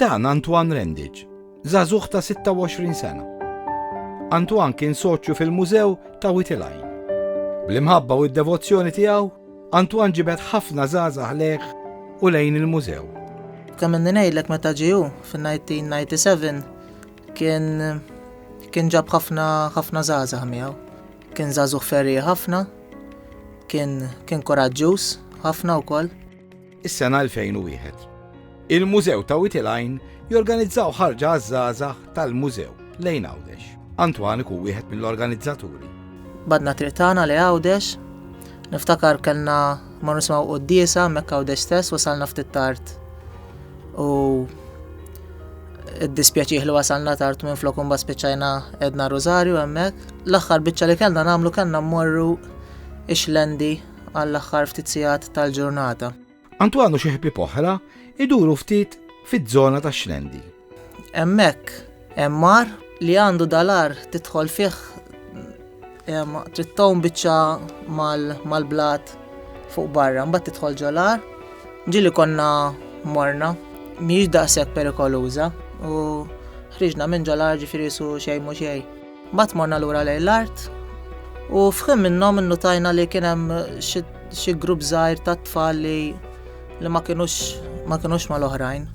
Dan Antoine Rendic, żagħżugħ ta' 26 sena. Antoine kien soċju fil-Mużew ta' Wied il-Għajn. Bl-imħabba u d-devozzjoni tiegħu, Antoine ġibed ħafna żgħażagħ lejh u lejn il-mużew. Kemm inni ngħidlek meta ġie hu fin-1997 kien kien ġab ħafna ħafna żgħażagħ miegħu. Kien żagħżugħ ferri ħafna, kien kien koraġġuż ħafna wkoll. Is-sena 2001. Il-Mużew ta' Wied il-Għajn jorganizzaw ħarġa għaż-żgħażagħ tal-Mużew lejn Għawdex. Antoine ikun wieħed mill-organizzaturi. Badna triq tagħna li Għawdex. Niftakar kellna ma nisimgħu quddiesa hemmhekk Għawdex stess wasalna ftit tard. U id-dispjaċih li wasalna tard minn flok imbagħad spiċċajna edna Rosario hemmhekk. L-aħħar biċċa li kellna nagħmlu kellna mmorru ix-xlendi għall-aħħar ftit sigħat tal-ġurnata. Antoine u xi ħbieb oħra iduru ftit fiż-żona tax-Xlendi. Hemmhekk hemm mar li għandu dalar tidħol fih trid tgħum biċċa mal-blat fuq barra, mbagħad tidħol ġolar. Ġili konna morna, mhijiex daqshekk perikoluża u ħriġna minn ġolar ġifieri su xejn mhu xejn. Mbagħad morna lura lejn l-art u f'ħin minnhom innutajna li kien hemm xi grupp żgħir tat-tfal li li ma kinux ma kinux mal-oħrajn.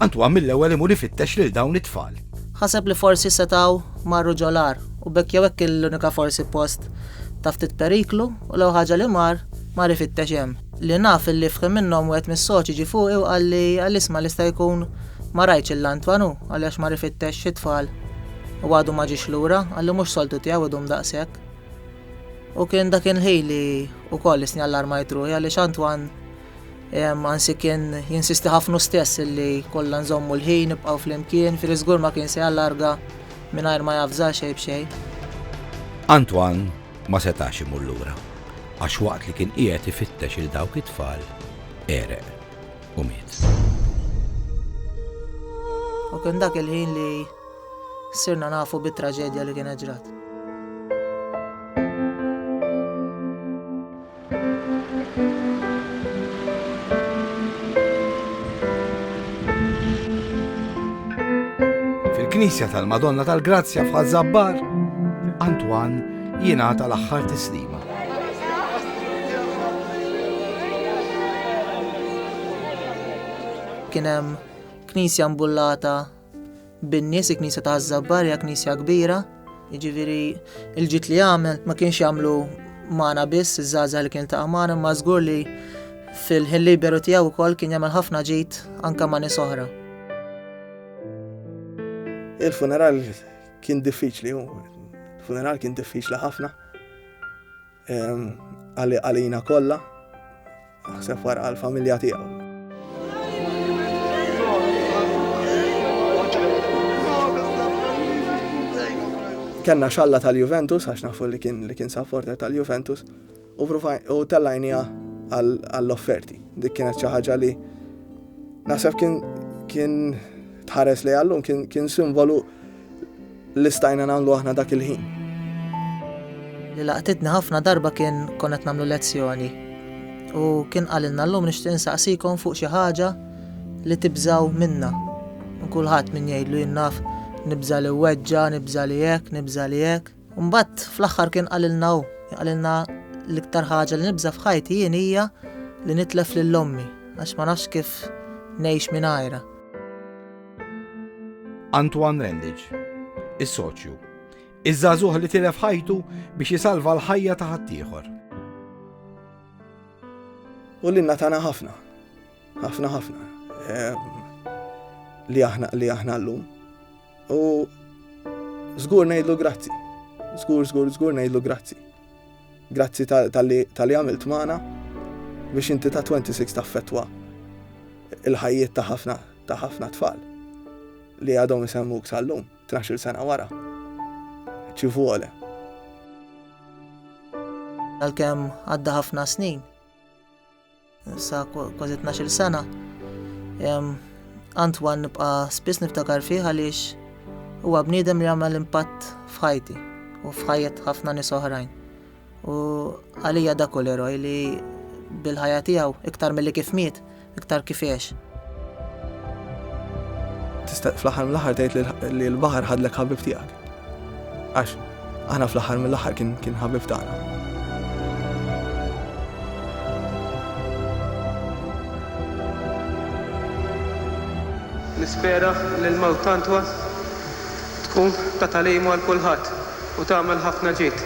Antoine mill-ewwel imur ifittex lil dawn it-tfal. Ħaseb li forsi setgħu marru ġol-għar u b'hekk jew hekk kien l-unika forsi post ta' ftit periklu u l-ewwel ħaġa li mar, mar ifittex hemm. Li naf illi f'ħin minnhom wieħed mis-soċi ġie fuqi u qalli, qalli isma' l-ista' jkun ma rajtx 'l Antoine hu, qalli għax mar ifittex xi tfal. u għadu ma ġiex lura, qalli mhux soltu tiegħu idum daqshekk. U kien dak il-ħin li wkoll isni allarmajt ruħi għaliex Antwan ansi kien jinsisti ħafna stess li kollha nżommu l-ħin nibqgħu flimkien, firi żgur ma kien se jallarga mingħajr ma javża xejn b'xejn. Antwan ma setax imur lura għax waqt li kien qiegħed ifittex il dawk it-tfal għereq. u miet. U kien dak il-ħin li sirna nafu bit-traġedja li kien ġrat. Fil-Knisja tal-Madonna tal-Grazzja f'Ħazzabbar, Antwan jingħata l-aħħar tislima. Kien hemm knisja mbullata bin-nies, il-knisja ta' Żabbar hija knisja kbira, jiġifieri l-ġid li għamel ma kienx jagħmlu magħna biss iż-żgħażagħ li kien ta' magħna, ma żgur li fil-ħin liberu tiegħu wkoll kien jagħmel ħafna ġid anke ma' nies oħra. Il-funeral kien diffiċli, il-funeral kien diffiċli ħafna. Għalina kollha, naħseb wara għall-familja tiegħu. Kenna xalla tal-Juventus, għax nafu li kien li kien supporter tal-Juventus, u tellajnija għall-offerti. Dik kienet xi ħaġa li naħseb kien kien tħares li għallum kien simbolu Li stajna nagħmlu aħna dak il-ħin. Li laqtitni ħafna darba kien konna qed nagħmlu lezzjoni u kien qalilna llum nixtieq insaqsikom fuq xi ħaġa li tibżaw minna. Kulħadd min jgħidlu jien naf nibża li weġġa, nibża li hekk, nibża li hekk. Mbagħad fl-aħħar kien qalilna hu, qalilna l-iktar ħaġa li nibża f'ħajti jien hija li nitlef lil ommi għax ma nafx kif ngħix mingħajra. Antoine Rendich, is-soċju. Iż-żagħżugħ li tilef ħajtu biex isalva l-ħajja ta' ħaddieħor. U li natana ħafna, ħafna ħafna, ehm, li aħna li aħna llum. U żgur ngħidlu grazzi. Żgur, żgur, żgur ngħidlu grazzi. Grazzi tal-li għamilt magħna biex inti ta' 26 taffettwa il-ħajjiet ta' ħafna ta' ħafna tfal li għadhom isemmuk sal-lum 12 sena wara. Ci vuole. Għalkemm għadda ħafna snin, Sa kważi 12 sena. Antwan nibqa' spiss niftakar fih għaliex huwa bniedem li għamel impatt f'ħajti u f'ħajjet ħafna nies oħrajn. U għalija dak u l-eroj li bil-ħajja tiegħu iktar milli kif miet, iktar kif għex. Tista' fl-aħħar mill-aħħar tgħid li l-baħar ħadlek ħabib tiegħek. Għax aħna fl-aħħar mill-aħħar kien kien ħabib tagħna. Nispera li l-mewt t'Antwa tkun ta' tagħlimu għal kulħadd u tagħmel ħafna ġid.